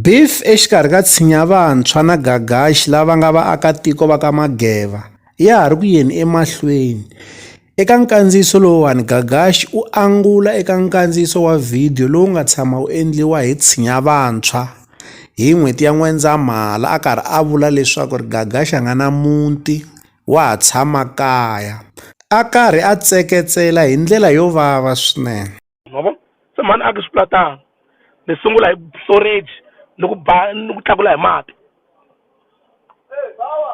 Beef exikarhi ka Tshinya Vantshwa na Gagashi lava nga vaakatiko va ka Mageva ya ha ri ku yeni emahlweni. Eka nkandziyiso lowuwani Gagashi u angula eka nkandziyiso wa vhidiyo lowu nga tshama wu endliwa hi Tshinya Vantshwa hi n'hweti ya N'wendzamhala a karhi a vula leswaku ri Gagashi a nga na muti wa ha tshama kaya a karhi a tseketsela hi ndlela yo vava swinene. ma vo, se mhani a ku swilatano, mi sungula hi b-, storage ni ku ba ni ku tlakula hi mati,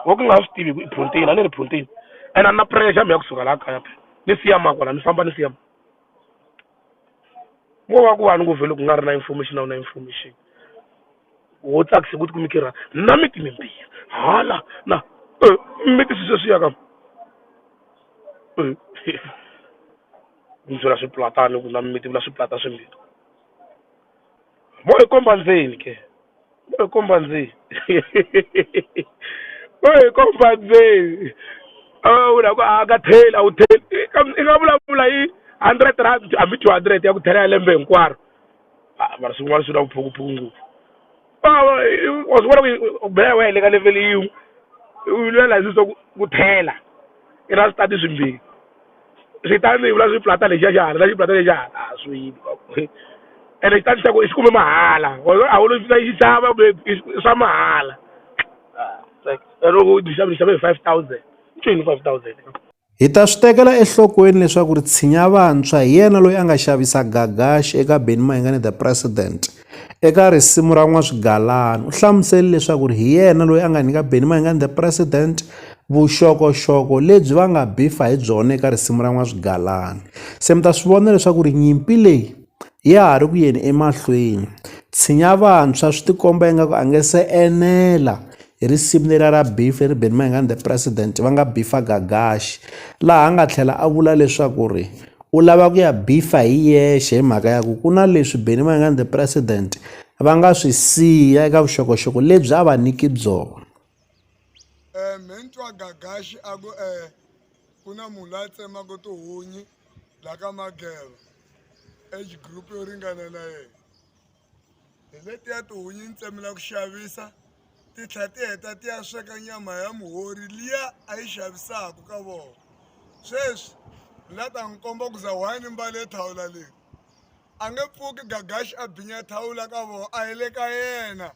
wo ka mi nga swi tivi ku i phurotheni a ni ri phurotheni ene a ni na pressure mi ya kusuka la kaya phela, ni siya mani kwala ni famba ni siya mani, ko va ku va ni ku vhele ku nga ri na information a wu na information, wo tsakisa ku ti kuma i karhi a ku na miti mimbirhi hala na mimiti sweswiya ka, he he. ni byala swiplatana ni ku na mimiti ni vula swiplata swimbirhi vo hi komba ndzeni ke vo hi komba ndzeni vo hi komba ndzeni a va vula ku a ka tlheli a wu tlheli i ka i nga vulavula hi hundred rand hambi two hundred ya ku tlhela ya lembe hinkwaro a mara swin'wana swi na vuphukuphuku ngopfu. Bava i wa swi vona ku i- u bela wehe le ka level yin'we u lwela hi swiso ku ku thela i na switati swimbirhi switandi i vula swi plata lexiya xa hala na xiplata lexiya hala a swi yimi wa ku ene xitandi xa ku i xi kume mahala wena a wu lo xi xi xava kumbe i swi- i swa mahala loko u xave ni xave hi five thousand i ncini five thousand. Hi ta swi tekela enhlokweni leswaku ri tshinya vantshwa hi yena loyi a nga xavisa gagaxi eka Benny Mayengani the President. Eka risimu ra N'waswigalani u hlamusele leswaku ri hi yena loyi a nga nyika Benny Mayengani the President vuxokoxoko lebyi va nga bifa hi byona eka risimu ra N'waswigalani. Se mi ta swi vona leswaku ri nyimpi leyi ya ha ri ku yeni emahlweni. Tshinya vantshwa swi ti komba ingaku a nge se enela hi risimu leriya ra Beef leri Benny Mayengani the president va nga beef-a Gagaxi, laha a nga tlhela a vula leswaku ri u lava ku ya beef-a hi yexe hi mhaka ya ku ku na leswi Benny Mayengani the president va nga swi siya eka vuxokoxoko lebyi a va nyiki byona. eh me ni twa gagaxi a ku eh ku na munhu la tsemaka tihunyi la ka mageva age group yo ringana na yena hi letiya tihunyi ni tsemela ku xavisa ti tlhela ti heta ti ya sweka nyama ya muhori liya a yi xavisaka ka vona sweswi la ta n'wi komba ku za wani mbale thawula leyi a nge pfuki gagaxi a binya thawula ka vona a hi le ka yena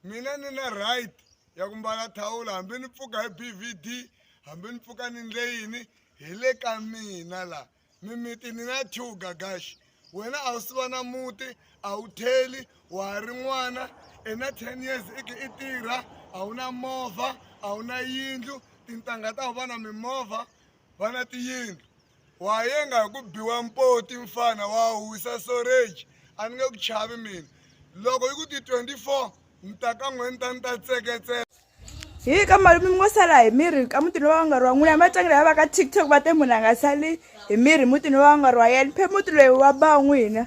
Mina ni na right ya ku mbala thawula hambi ni pfuka hi BVD hambi ni pfuka ni ndle yini hi le ka mina la mimiti ni na two gagash wena a wu si va na muti a wu theli wa ha ri n'wana i na ten years i ke i tirha a wu na movha a wu na yindlu tintangha ta wu va na mimovha va na tiyindlu wayenga hi ku biwa mpoti mfana wa husa soreji a ni nge ku chavi mina loko yi ku ti 24 ni ta ka n'we ni ta ni ta tseketsela hi ka malume mi ngo sala hi miri ka mutini wa vangarhi wa n'wina matlangela ya va ka tiktok va te munhu a nga sali hi miri mutini wa vangarhi wa yena phe muti loyi wa ba n'wina